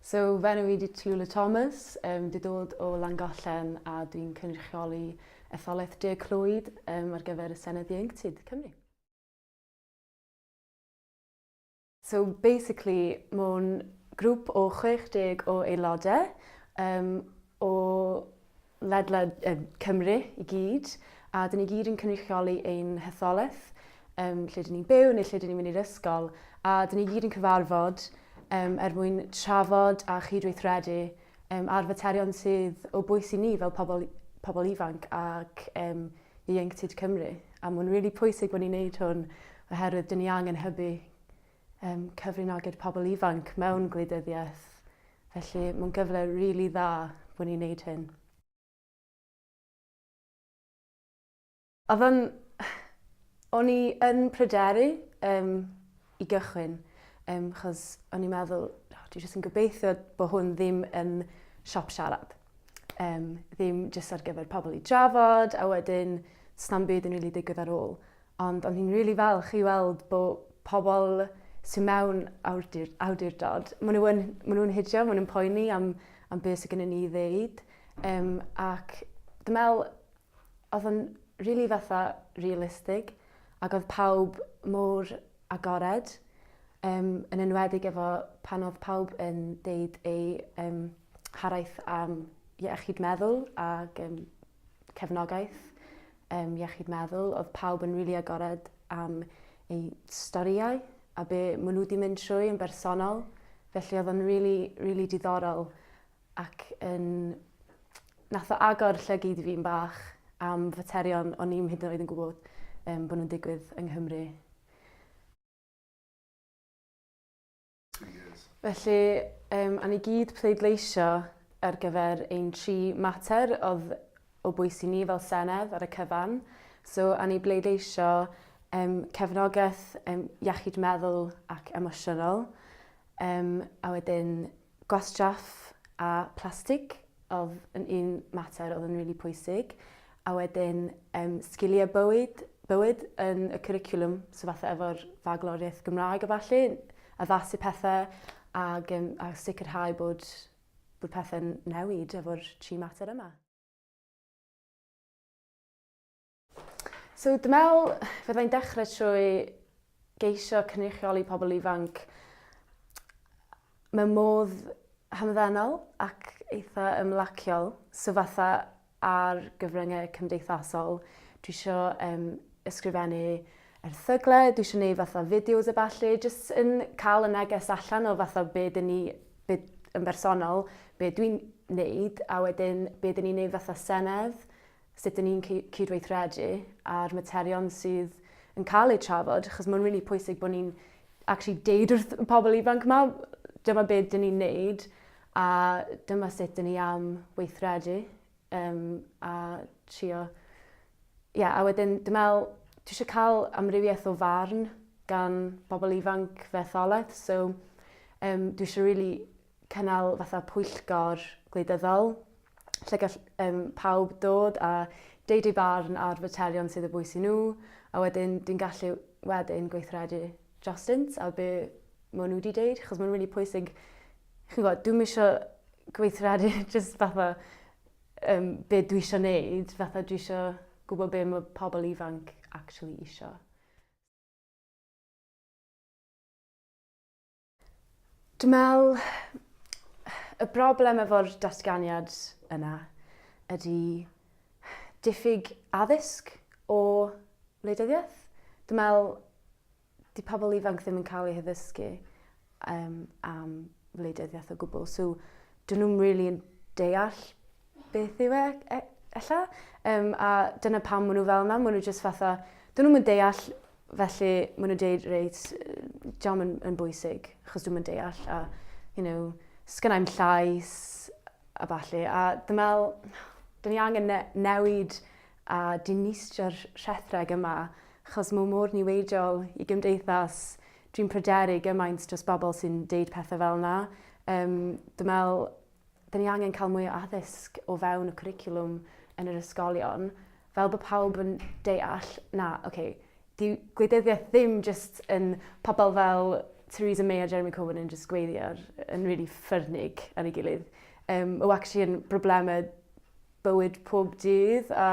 So, fy enw i di Tallulah Thomas, um, di dod o Langollen a dwi'n cynrychioli etholaeth De Clwyd um, ar gyfer y Senedd Ieuenctid Cymru. So basically, mae'n grŵp o 60 o aelodau um, o ledled Cymru i gyd, a dyn ni gyd yn cynrychioli ein hetholaeth, um, lle dyn ni'n byw neu lle dyn ni'n mynd i'r ysgol, a dyn ni gyd yn cyfarfod um, er mwyn trafod a chydweithredu um, ar faterion sydd o bwys i ni fel pobl, pobl ifanc ac um, ieuenctid Cymru. A mae'n rili really pwysig bod ni'n neud hwn oherwydd dyn ni angen hybu um, cyfrinogyd pobl ifanc mewn gwleidyddiaeth. Felly mae'n gyfle rili really dda bod ni'n neud hyn. Oedd o'n... O'n i yn pryderu um, i gychwyn, um, chos o'n i'n meddwl, oh, dwi jyst yn gobeithio bod hwn ddim yn siop siarad. Um, ddim jyst ar gyfer pobl i drafod, a wedyn snam byd yn rili really digwydd ar ôl. Ond o'n i'n rili falch i weld bo' pobol sy mewn awdur- awdurdod, ma' n'w yn ma' n'w'n hidio ma' n'w'n poeni am am be' sy gynnon ni i ddeud yym ac dwi me'wl odd o'n rili fatha realistig ag odd pawb mor agored yym yn enwedig efo pan odd pawb yn deud eu yym haraith am iechyd meddwl ag yym cefnogaeth um, iechyd meddwl. Oedd pawb yn rili really agored am eu storïau a be maen nhw wedi mynd trwy yn bersonol. Felly oedd o'n rili, really, rili really diddorol ac yn... Nath o agor llygyd i fi'n bach am faterion o'n i'm hyd yn oed yn gwybod um, bod nhw'n digwydd yng Nghymru. Felly, um, a ni gyd pleidleisio ar gyfer ein tri mater oedd o bwys i ni fel Senedd ar y cyfan. So, a ni bleidleisio um, cefnogaeth um, iechyd meddwl ac emosiynol, um, a wedyn gwastraff a plastig oedd yn un mater oedd yn rili really pwysig, A wedyn yym sgiliau bywyd, bywyd yn y cwricwlwm, so fatha efo'r fagloriaeth Gymraeg a falle, addasu pethau ag, um, a sicrhau bod, bod pethau'n newid efo'r tri mater yma. So dwi'n meddwl fyddai'n dechrau trwy geisio cynrychioli pobl ifanc mewn modd hamddenol ac eitha ymlaciol. So fatha ar gyfryngau cymdeithasol. Dwi isio um, ysgrifennu erthygle, dwi eisiau gwneud fatha fideos a falle, jyst yn cael y neges allan o fatha be dyn ni, be, yn bersonol, be dwi'n wneud, a wedyn be dyn ni'n wneud fatha senedd, sut dyn ni'n cydweithredu a'r materion sydd yn cael eu trafod, achos mae'n rili really pwysig bod ni'n actually deud wrth y pobl ifanc yma, dyma be dyn ni'n wneud, A dyma sut dyn ni am weithredu um, a trio... Ie, yeah, a wedyn dwi'n meddwl, dwi eisiau cael amrywiaeth o farn gan bobl ifanc fe tholedd, so um, dwi eisiau really cynnal fatha pwyllgor gwleidyddol lle gall um, pawb dod a deud ei barn ar faterion sydd y bwys i nhw a wedyn dwi'n gallu wedyn gweithredu drostynt a be maen nhw wedi deud, chos mae'n rili really pwysig chi'n gwybod, dwi'm isio gweithredu jyst fatha um, be dwi isio neud, fatha dwi isio gwybod be mae pobl ifanc actually isio. Dwi'n meddwl y broblem efo'r datganiad yna ydy diffyg addysg o wleidyddiaeth. Dwi'n meddwl di pobl ifanc ddim yn cael eu haddysgu um, am wleidyddiaeth o gwbl. So, dyn nhw'n really yn deall beth yw e, e ella. Um, a dyna pam maen nhw fel yna, maen nhw just fatha, dyn nhw'n deall, felly maen nhw'n deud, reit, diolch yn, yn bwysig, achos dwi'n deall, a, you know, sgynna i'm llais, a falle. A dwi'n meddwl, dyn ni angen ne newid a dinistrio'r rhethreg yma, achos mae o mor niweidiol i gymdeithas, dwi'n pryderu gymaint dros bobl sy'n deud pethau fel yna. Um, dwi'n meddwl, dyn ni angen cael mwy o addysg o fewn y cwricwlwm yn yr ysgolion, fel bod pawb yn deall, na, oce, okay, di gwleidyddiaeth ddim jyst yn pobl fel Theresa May a Jeremy Corbyn yn jyst gweiddi ar, yn really ffyrnig ar ei gilydd. Um, o actually yn broblemau bywyd pob dydd a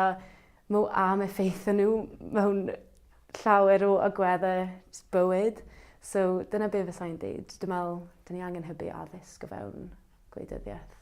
mo am effeithio nhw mewn llawer o agwedde bywyd. So dyna be fysa i'n deud. Dwi'n meddwl, dyn ni angen hybu addysg o fewn gwleidyddiaeth.